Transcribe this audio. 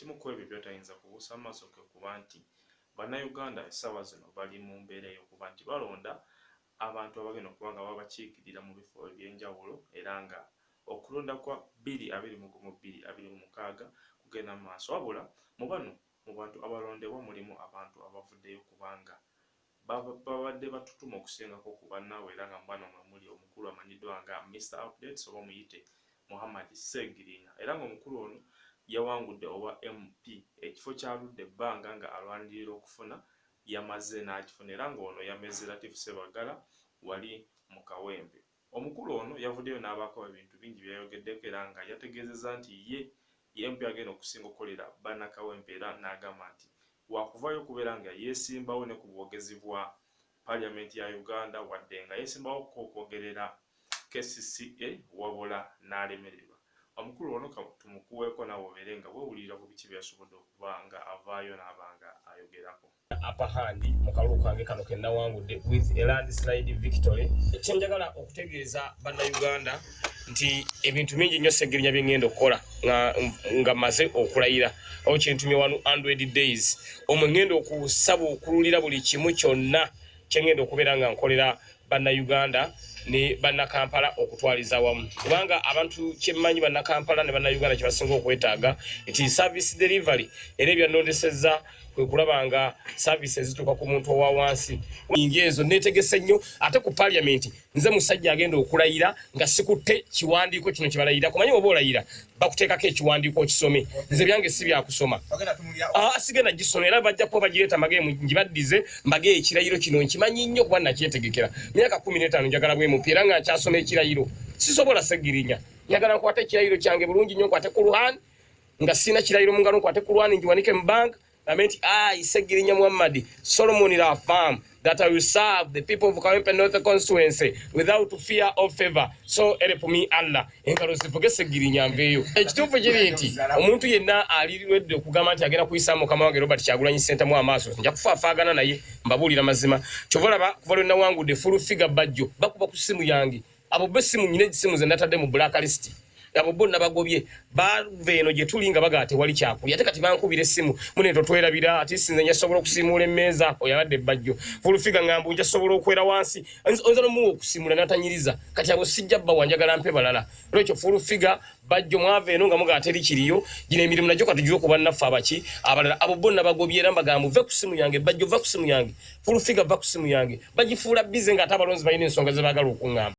ekimu ku ebyo byotayinza kubuusa maaso kwe kuba nti bannayuganda essaawa zino bali mu mbeera ey'okuba nti balonda abantu abagenda okuba nga babakiikirira mu bifo eby'enjawulo era nga Okulonda kwa bbiri abiri mu gumu bbiri abiri mu mukaaga kugenda mu maaso wabula mu bano mu bantu abalondebwa mulimu abantu abavuddeyo kubanga babadde batutuma okusingako ku bannaabwe era nga mu bano mwe muli omukulu amanyiddwa nga Mister Updates oba muyite Muhammad Ssegirinya era ng'omukulu ono yawangudde obwa MP ekifo ky'aludde ebbanga nga alwanirira okufuna yamaze n'akifuna era ng'ono yamezze Latif Ssebaggala wali mu Kawempe. Omukulu ono yavuddeyo n'abaako ebintu bingi byeyayogeddeko era nga yategeezezza nti ye ye MP agenda okusinga okukolera banna Kawempe era n'agamba nti wakuvaayo okubeera nga yesimbawo ne ku bwogezi bwa parliament ya Uganda wadde nga yesimbawokko okwogerera kcca wabula n'alemererwa. Omukulu ono ka tumukuweeko naawe obeere nga wewulirira ku biki byeyasobodde okuba nga avaayo naaba nga ayogerako. upper hand mu kalulu kange kano ke nnawangudde with a landslide victory kye njagala okutegeeza bannayuganda nti ebintu bingi nnyo segirinya bye ŋŋenda okukola nga mmaze okulayira awo kyentumye wanu android days omwe ŋŋenda okusaba okululira buli kimu kyonna kye ŋŋenda okubeera nga nkolera bannayuganda ne bannakampala okutwaliza wamu kubanga abantu kyemmanyi bannakampala ne bannayuganda kye basinga okwetaaga nti service delivery era ebyannondesezza kwe kulaba nga service ezituuka ku muntu owa wansi nyingi ezo neetegese nnyo ate ku paliamenti nze musajja agenda okulayira nga sikutte kiwandiiko kino kyebalayira kumanyi oba olayira bakuteekako ekiwandiiko okisome nze byange si byakusoma ah, sigenda gisoma era bajja kuba bagireeta magemu ngibaddize mbage ekirayiro kino nkimanyi nnyo kuba nakyetegekera myaka kumi n'etaano njagala bwemupi era nga nkyasoma ekirayiro sisobola segirinya njagala nkwate ekirayiro kyange bulungi nnyo nkwate ku luhan nga sirina kirayiro mu ngalo nkwate ku lwani ngiwanike mu banka Lamenti I Segirinya Muhammad Solomon Rafam that I will serve the people of Kawempe North constituency without fear or favor so help me Allah engalo zivuge Segirinya mbeyo ekituufu kiri nti omuntu yenna aliridde okugamba nti agenda kuyisa mukama wange Robert Kyagulanyi Ssentamu amaaso nja kufaafaagana naye mbabuulira mazima kyovolaba kuva lwe nawangudde full figure bajjo bakuba ku ssimu yange abo bo essimu nyina egisimu ze natadde mu black list abo bo nabagobye bava eno gye tuli nga bagaa tewali kyakulya ate kati bankubira essimu mune totwerabira ati sinze njasobola okusimuula emmeeza oyabadde ebbajjo fulufiga ngambu njasobola okwera wansi oyinza nomuwa okusimula natanyiriza kati abo sijja bbawa njagala mpe balala lwekyo fulufiga bajjo mwava eno nga mugaa teri kiriyo gino emirimu nagyo katugiwe ku bannaffe abaki abalala abo bo nabagobye era mbagambu ve ku simu yange bajjo va ku simu yange fulufiga va ku simu yange bagifuula bize nga ate abalonzi balina ensonga ze bagala okuŋamba